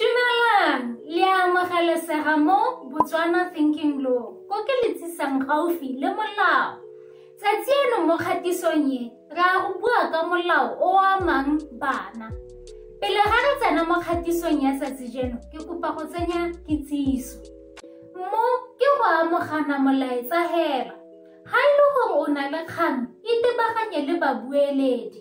Dumelang, le a amogelesega mo Botswana Thinking Law, ko ke le tsisang gaufi le molao. Tsatsi eno mo kgatisong e, re a go bua ka molao o o amang bana. Pele ga re tsena mo kgatisong ya tsatsi jeno, ke kopa go tsenya kitsiso. Mo ke go amogana molaetsa hela. Ga e le gore o na le kgang, itebaganye le babueledi.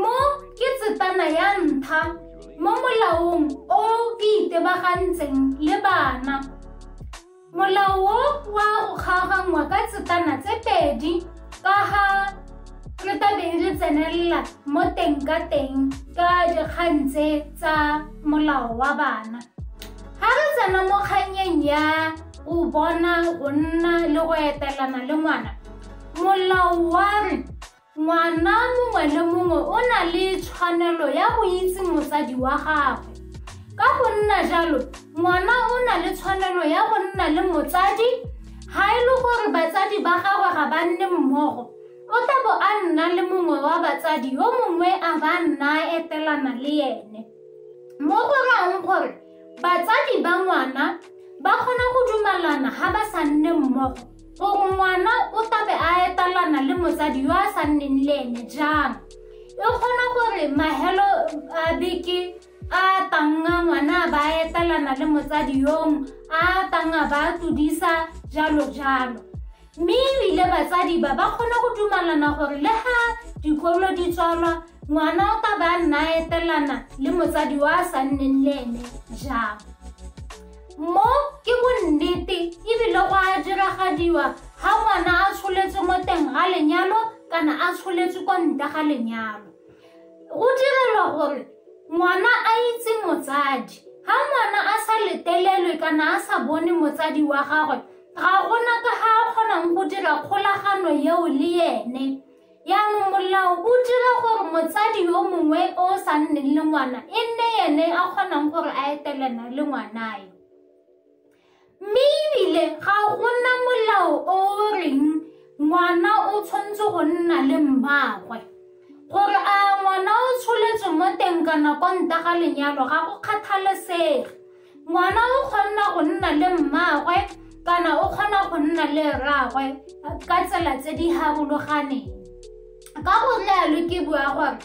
Mo ke tsetsana ya ntlha mo molaong o ke itebagantseng le bana. Molao o wa go kgaoganngwa ka tsetsana tse pedi ka ga re tabeng re tsenelela mo teng ka teng ka dikgang tse tsa molao wa bana. Ga re tsena mo kgannyeng ya go bona go nna le go etelana le ngwana, molao wa re Ngwana mongwe le mongwe o na le tshwanelo ya go itse motsadi wa gagwe. Ka go nna jalo, ngwana o na le tshwanelo ya go nna le motsadi ga e le gore batsadi ba gagwe ga ba nne mmogo. O tla bo a nna le mongwe wa batsadi yo mongwe a ba nna etelana le ene. Mo go rayang gore batsadi ba ngwana ba kgona go dumalana ga ba sa nne mmogo. Gore ngwana o tlabe a etalana le motsadi yo a sa nneng le ene jang e kgona gore mahelo a beke a tanga ngwana a ba etalana le motsadi yong a tanga ba tlodisa jalo jalo mme ebile batsadi ba ba kgona go dumalana gore le ga dikolo di tswalwa ngwana o ka ba nna etelana le motsadi wa a sa nneng le ene jang mo ke bonnete ebile go a diragadiwa ga ngwana a tsholetswe mo teng ga lenyalo kana a tsholetswe kwa nta ga lenyalo go direlwa gore ngwana a itse motsadi ga ngwana a sa letelelwe kana a sa bone motsadi wa gagwe ga gona ka ga a kgonang go dira kgolagano eo le ene Jaanong molao o dira gore motsadi yo mongwe o o sa nneng le ngwana e nne ene a kgonang gore a etelena le ngwanae. Mme ebile ga gona molao o o reng ngwana o tshwanetse go nna le mmaagwe. Gore a ngwana o tsholetswe mo teng kana kwa nta ga lenyalo ga go kgathalesege. ngwana o kgona go nna le mmaagwe kana o kgona go nna le rraagwe ka tsela tse di harologaneng ka go lealo ke bua gore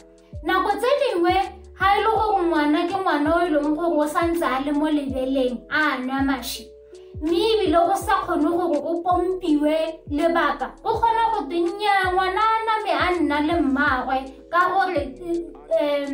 nako tse dingwe ga e le gore ngwana ke ngwana o e leng gore o santse a le mo lebeleng a nwa mashi mme ebile go sa kgone gore o pompiwe lebaka o kgona go tennya ngwana a name a nna le mmaagwe ka gore um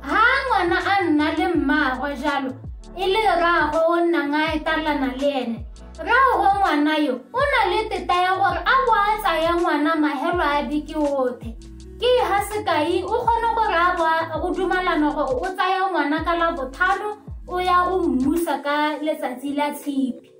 Ha ngwana a nna le mmaagwe jalo e le rraagwe o nnang a etalana le ene rraagwe ngwana yo o na le teta ya gore a bo a tsaya ngwana mahelo a beke othe ke ha sekai o kgone gore a boa go dumalana gore o tsaya ngwana ka la bothano o ya go mmusa ka letsatsi la tshipi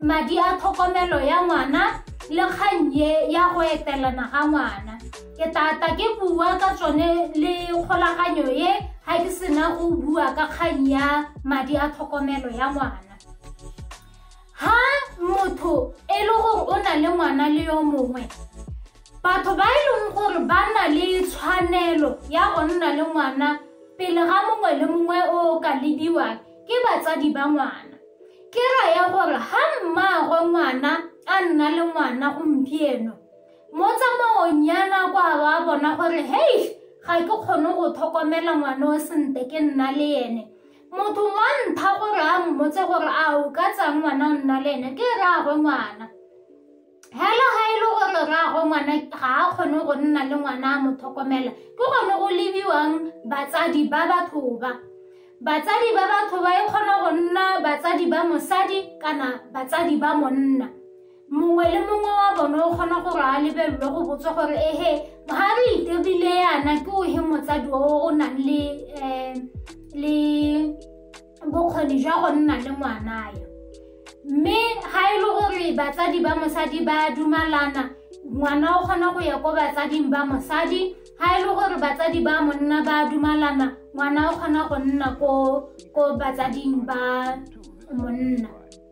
madi a tlhokomelo ya ngwana le kgang ye ya go etelana ga ngwana ke tata ke bua ka tsone le kgolaganyo ye ga ke sena go bua ka kgang ya madi a tlhokomelo ya ngwana ha motho e le gore o na le ngwana le yo mongwe batho ba e leng gore ba na le tshwanelo ya go nna le ngwana pele ga mongwe le mongwe o ka lebiwang ke batsadi ba ngwana Ke raya gore ga mmaagwe ngwana a nna le ngwana gompieno mo tsamaong ya nako a ba bona gore hei ga ke kgone go tlhokomela ngwana o sente ke nna le ene motho wa ntha gore a mmotse gore a o ka tsaya ngwana o nna le ene ke rraagwe ngwana hela ga e le gore rrago ngwana ga a kgone go nna le ngwana a mo tlhokomela ke gone go lebiwang batsadi ba batho ba batsadi ba batho ba e kgona go nna batsadi ba mosadi kana batsadi ba monna mongwe le mongwe wa bone o kgona gore a lebelelwe go botsa gore ehe ga re itebile yana ke o he motsadi o o nang le um le bokgoni jwa go nna le ngwanae mme ga e le gore batsadi ba mosadi ba dumalana ngwana o kgona go ya ko batsading ba mosadi ga e le gore batsadi ba monna ba dumalana ngwana o kgona go nna ko batsading ba monna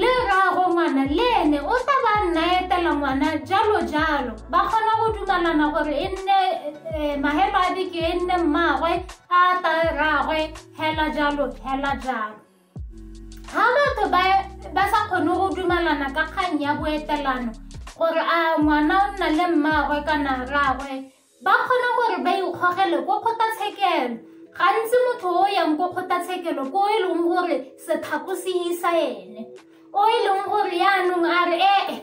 Le rraagwe ngwana le ene o tla ba nna etela ngwana jalo jalo ba kgona go dumalana gore e nne eh, mahelo a beke e nne mmaagwe a ta rraagwe hela jalo hela jalo ga batho ba sa kgone go dumalana ka kgang ya boetelano gore a ngwana o nna le mmaagwe kana rraagwe Ba kgona gore ba ikgogele ko kgotlatshekelo. Gantsi motho o yang ko kgotlatshekelo ko e leng gore sephako se isa ene o e leng gore yaanong a re ee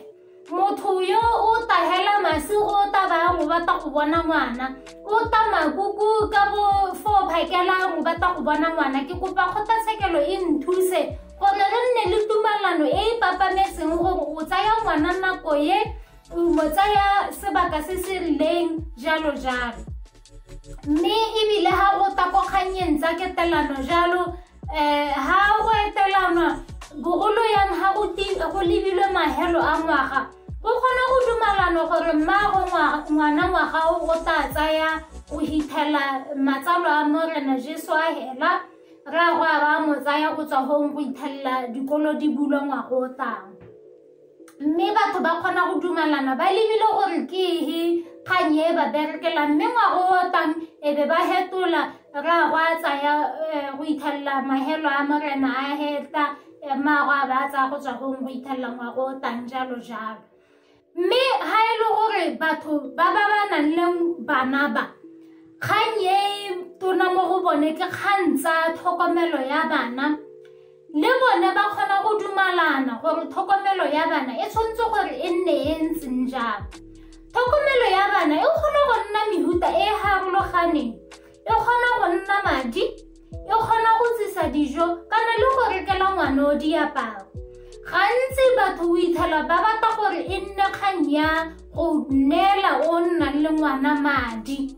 motho yo o tahela masi o ta bang o batla go bona ngwana o ta makuku ka bo fo phakelang o batla go bona ngwana ke kopa kgotlatshekelo e nthuse gore re nne le tumalano e e papametseng gore o tsaya ngwana nako ye kumo tsaya sebaka se se rileng jalo jalo mme ebile ha go takokganyeng tsa ketelano jalo um ha go etelanwa bogolo yang ha go lebilwe mahelo a ngwaga go kgona go dumalano gore mmaago ngwana ngwaga o go tla tsaya go hithela matsalo a morena jesu a hela rraagwe a ba mo tsaya go tswa gong go ithelela dikolo di bulwa ngwago o tlang mme batho ba kgona go dumalana ba lebile gore ke ehe kgang e ba berekela mme ngwago o tang e be ba hetola ra go a tsaya eh, go ithelela mahelo a morena a heta eh, maago a ba tsaya go tswa gong go ithelela ngwago o tang jalo jalo mme ga e le gore batho ba ba ba nang le bana ba kgang e tona mo go bone ke kgang tsa tlhokomelo ya bana le bone ba kgona go dumalana gore tlhokomelo ya bana e tshwanetse gore e nne e ntseng jang tlhokomelo ya bana e kgona go nna mehuta e e harologaneng e kgona go nna madi e kgona go tsisa dijo kana le go rekela ngwana o diaparo gantsi batho o itlhela ba batla gore e nne kgang ya go neela o nnang le ngwana madi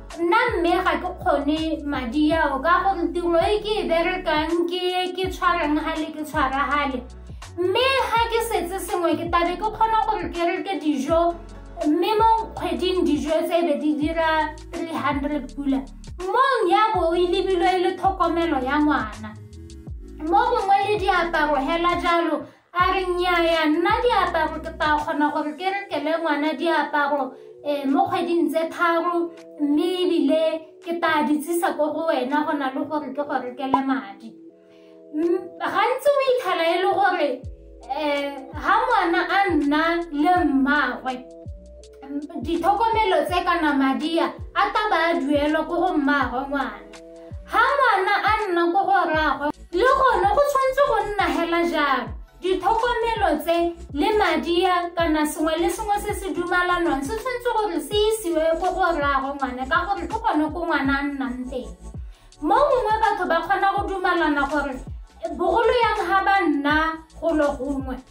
nna mme ga ke kgone madi ao ka gore tiro e ke e berekang ke ke tshwarang gale ke tshwara gale mme ga ke setse sengwe ke tabe ke kgona gore ke reke dijo mme mo kgweding dijo tse be di dira 300 pula mong ya bo e lebilwe e le tlhokomelo ya ngwana mo mongwe le diaparo hela jalo a re nnyaya nna diaparo ke tla kgona gore ke rekele ngwana diaparo um mo kgweding tse tharo mme ebile ke tla di tsisa ko go wena go na le gore ke go rekele madi gantsi o ithala e le gore um ga ngwana a nna le mmagwe Ditlhokomelo tse kana madia a ka ba a duelwa ko go mmaagwe ngwana. Ha ngwana a nna ko go rraagwe le gone go tshwanetse go nna hela jalo. Ditlhokomelo tse le madia kana sengwe le sengwe se se dumalanwang se tshwanetse gore se isiwe ko go rraagwe ngwana ka gore ke gone ko ngwana a nnang teng. Mo gongwe batho ba kgona go dumalana gore bogolo yang ha ba nna golo gongwe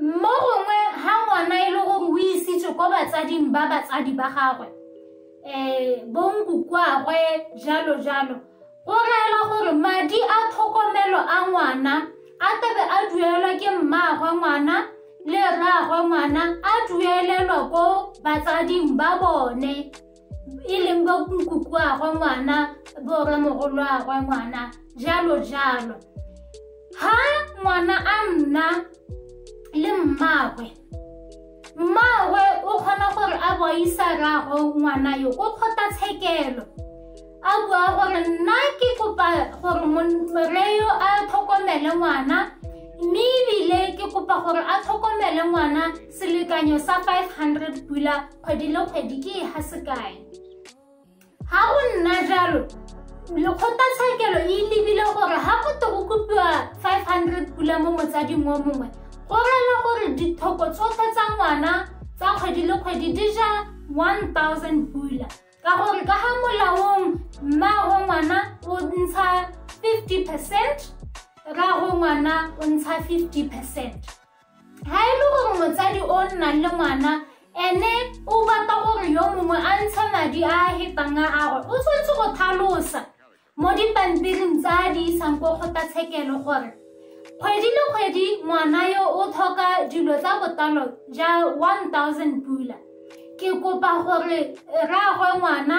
mo gongwe ga ngwana e le gore o isitswe ko batsading ba batsadi ba gagwe um bonkukwagwe jalo jalo go reela gore madi a tlhokomelo a ngwana a tebe a duelwa ke mmaagwe ngwana le rraagwe ngwana a duelelwa ko batsading ba bone e leng bo nkuku a gwe ngwana borwa mogolo a gwe ngwana jalo jalo ha ngwana a nna le mmagwe mmagwe o kgona gore a boisa rago ngwana yo o kgota tshekelo a bua gore nna ke kopa gore morre yo a tlhokomele ngwana mme ebile ke kopa gore a tlhokomele ngwana Selekanyo sa 500 pula kgwedi le kgwedi ke e ga sekae? Ga go nna jalo, lekgotlatshekelo e lebile gore ga go to go kopiwa 500 pula mo motsading o mongwe go rela gore dithoko tsotlhe tsa ngwana tsa kgwedi le kgwedi di ja 1000 pula ka gore ka ga molaong mmago ngwana o ntsha 50 percent rago ngwana o ntsha 50 percent ga e le gore motsadi o nnang le ngwana ene o batla gore yo mongwe a ntshe madi a a hetang a gagwe o tshwanetse go tlhalosa mo dipampiring tsa a di isang ko kgotlatshekelo gore kgwedi le kgwedi ngwana yo o tlhoka dilo tsa botalo ja 1000 pula ke kopa gore rraagwe ngwana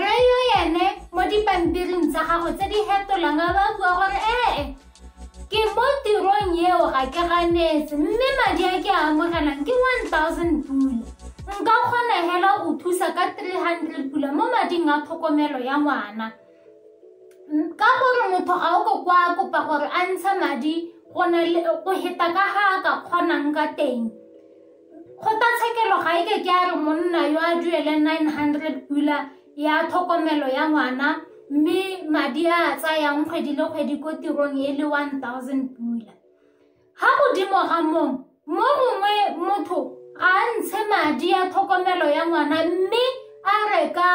Rre yo ene mo dipampiring tsa gago tse di hetolang a ba bua gore ee ke mo tirong eo ga ke ganetse mme madi a ke a amogelang ke 1000 pula nka kgona hela go thusa ka 300 pula mo mading a tlhokomelo ya ngwana ka gore motho ga o ko kwa kopa gore a ntshe madi go heta ka ga a ka kgonang ka teng Kgotlatshekelo ga e ke ke a re monna yo a duele 900 pula ya tlhokomelo ya ngwana mme madi a a tsayang kgwedi le kgwedi ko tirong e le 1000 pula. Ga godimo ga mong, mo mongwe motho ga a ntshe madi a tlhokomelo ya ngwana mme a reka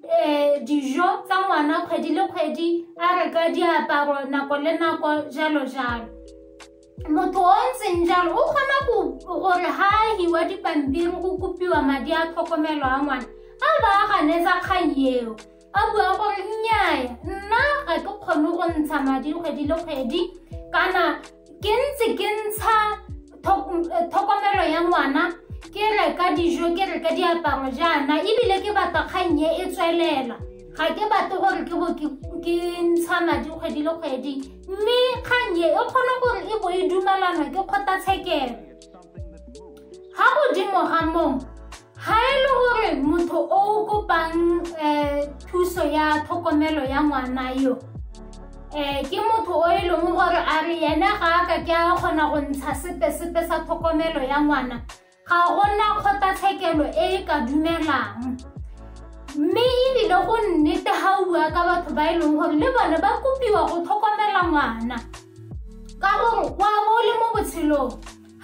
um dijo tsa ngwana kgwedi le kgwedi a reka diaparo nako le nako jalo jalo. motho o ntseng jalo o kgona gore ga a hiwa dipampiri go kopiwa madi a tlhokomelo a ngwana a ba a ganetsa kgang eo a bua gore nnyaya nna ga ke kgone go ntsha madi kgwedi le kgwedi kana ke ntse ke ntsha tlhokomelo ya ngwana ke reka dijo ke reka diaparo jaana ebile ke batla kgang e e tswelela ga ke batle gore ke bo ke ntsha madi kgwedi le kgwedi mme kgang e e kgone gore e bo e dumalana ke kgotlatshekelo ga godimo ga mong ga e le gore motho o o kopang um thuso ya tlhokomelo ya ngwana yo um ke motho o e leng gore a re ene ga a ka ke a kgona go ntsha sepe-sepe sa tlhokomelo ya ngwana Ga go na kgotlatshekelo e e ka dumelang mme ebile go nnete ga o bua ka batho ba e leng gore le bone ba kopiwa go tlhokomela ngwana ka gore wa bo o le mo botshelong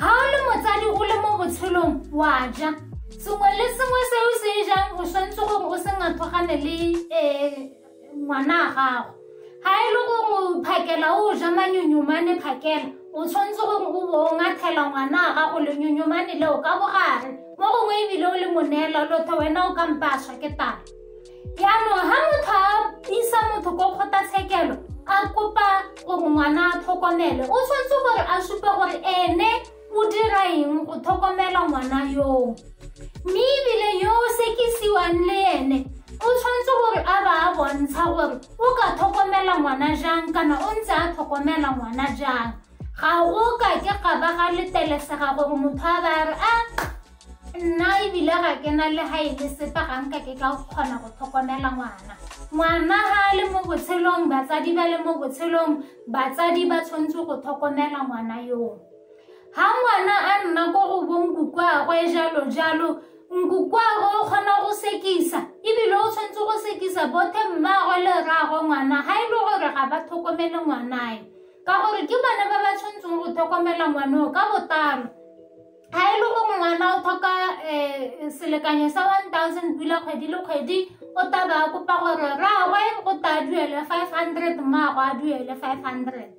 ga o le motsadi o le mo botshelong wa ja sengwe le sengwe se o se e jang o tshwanetse gore o se ngathogane le um ngwana a gago ga e le gongwe phakela o ja manyonyomane phakela o tshwanetse gore o bo o ngathela ngwana a gago lenyonyomane leo ka bogare mo gongwe ebile o le moneela lotho wena o kampaswa ke tala jaanong ga motho a isa motho ko kgotlatshekelo a kopa gore ngwana a tlhokomele o tshwanetse gore a supe gore ene o dira eng go tlhokomela ngwana yoo mme ebile yo o sekisiwang le ene o tshwanetse gore a ba a bontsha gore o ka tlhokomela ngwana jang kana o ntse a tlhokomela ngwana jang ga o ka ke ga ba ga letelesega gore motho a ba re a nna ebile ga ke na le ga e le sepe ga nka ke ka kgona go tlhokomela ngwana ngwana ga a le mo botshelong batsadi ba le mo botshelong batsadi ba tshwanetse go tlhokomela ngwana yoo ga ngwana a nna ko go bonkukwaagwe jalo jalo nkukwaagwe o kgona go sekisa ebile o tshwanetse go sekisa bothe mmaagwe le rraagwe ngwana ga e le gore ga ba tlhokomele ngwanae ka gore ke bone ba ba tshwanetseng go tlhokomela ngwaneo ka botalo ga e le gore ngwana o tlhoka um selekanyo sa one thousand pula kgwedi le kgwedi o taba kopa gore rraagwe go ta duele five hundred mmaagwe a duele five hundred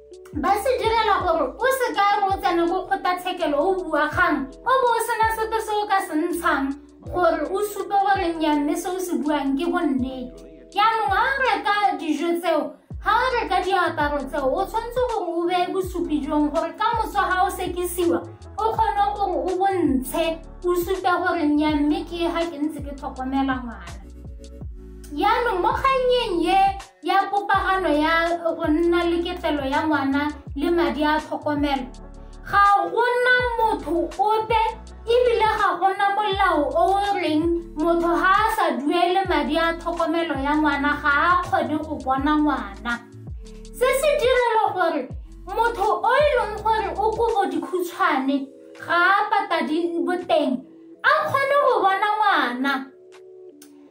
ba se direla gore o se ka re o tsene go kgotlatshekelo o bua kgang o bo o sena sepe se o ka se ntshang gore o supe gore nya mme se o se buang ke bonnete jaanong ga o reka dijo tseo ga o reka diaparo tseo o tshwanetse gore o beye bosupi jong gore ka moso ga o sekisiwa o kgone gore o bontshe o supe gore nya mme ke ga ke ntse ke tlhokomela ngwana jaanong mo kgannyeng ye ya popagano ya go nna le ketelo ya ngwana le madi a tlhokomelo ga gona motho ope ebile ga gona molao o o reng motho ga a sa duele madi a tlhokomelo ya ngwana ga a kgone go bona ngwana se se direlo gore motho o e leng gore o kobo dikhutshwane ga a patadi boteng a kgone go bona ngwana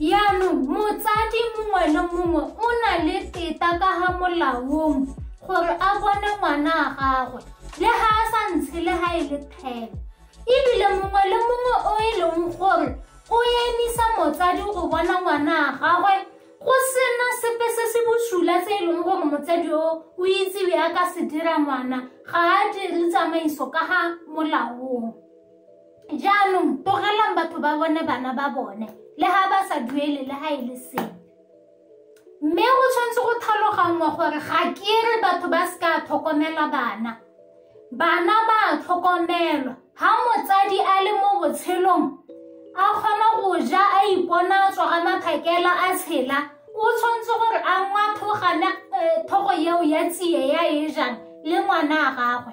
Yaanong motsadi mongwe le mongwe o na le teta ka ga molaong gore a bone ngwana a gagwe le ga a sa ntshe le ga e le thebe ebile mongwe le mongwe o e leng gore o emisa motsadi go bona ngwana a gagwe go sena sepe se se bosula se e leng gore motsadi o o itsewe a ka se dira ngwana ga a dire tsamaiso ka ga molaong jaanong tlogelang batho ba bone bana ba bone le ga ba sa duele le ga e le seng mme go tshwanetse go tlhaloganngwa gore ga ke re batho ba se ka tlhokomela bana bana ba tlhokomelwa ga motsadi a le mo botshelong a kgona go ja a ipona a tswa ga maphakela a tshela o tshwanetse gore a ngwathogana eh, thogo eo ya tsie ya e jang le ngwana a gagwe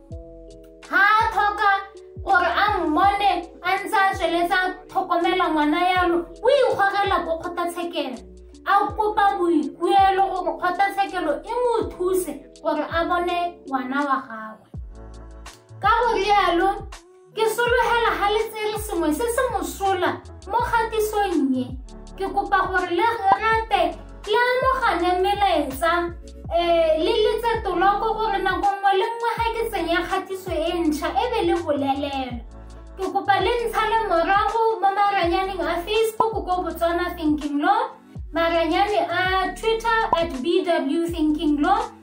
ga a tlhoka gore a mmone a ntse a tsweletsa tlhokomela ngwana yalo o ikgogela ko kgotlatshekelo a kopa boikuelo gore kgotlatshekelo e mo thuse gore a bone ngwana wa gagwe ka go rialo Ke sologela ga le tsere sengwe se se mosola mo kgatisong e. Ke kopa gore le rate le amogane melaetsa um le letse toloko gore nako nngwe le nngwe ga ke tsenya kgatiso e ntšha e be le bolelelwa. Ke kopa le ntsha le morago mo maranyaneng a Facebook ko Botswana Thinking Law, maranyane a Twitter at BW Thinking Law,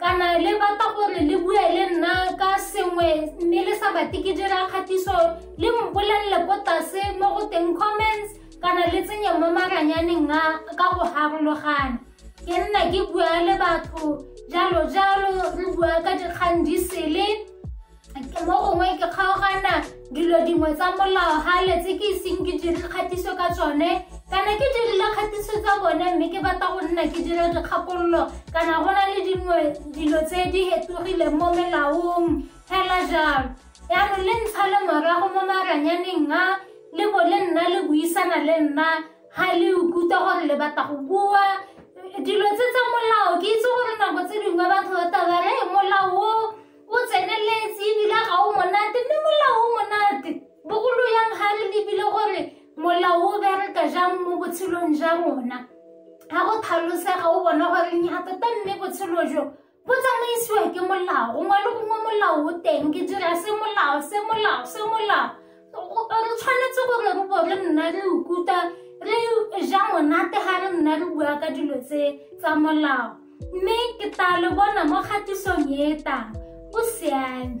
kana le batla gore le bue le nna ka sengwe mme le sa batle ke dira kgatiso le mpolelele ko tlase mo go teng comments kana le tsenye mo maranyaneng a ka go harologana ke nna ke bua le batho jalo jalo re bua ka dikgang di sele mo gongwe ke kgaogana dilo dingwe tsa molao ga letse ke iseng ke dire kgatiso ka tsone kana ke dirile kgatiso tsa bone mme ke batla go nna ke dire dikgakololo kana go na le dingwe dilo tse di hetogileng mo melaong fela jalo yaanong le ntsha le morago mo maranyaneng a le bo le nna le buisana le nna ga le ukutlwa gore le batla go bua dilo tse tsa molao ke itse gore nako tse dingwe batho ba tabare molao o o tseneletse ebile ga o monate mme molao o monate bogolo yang ga re lebile gore molao o bereka jang mo botshelong ja rona ga go tlhalosega o bona gore nya tota mme botshelo jo bo tsamaisiwa ke molao gongwe le gongwe molao o teng ke dira se molao se molao se molao re tshwanetse gore re bo re nna re ukuta re ja monate ga re nna re bua ka dilo tse tsa molao mme ke tla le bona mo kgatisong e e tang o siame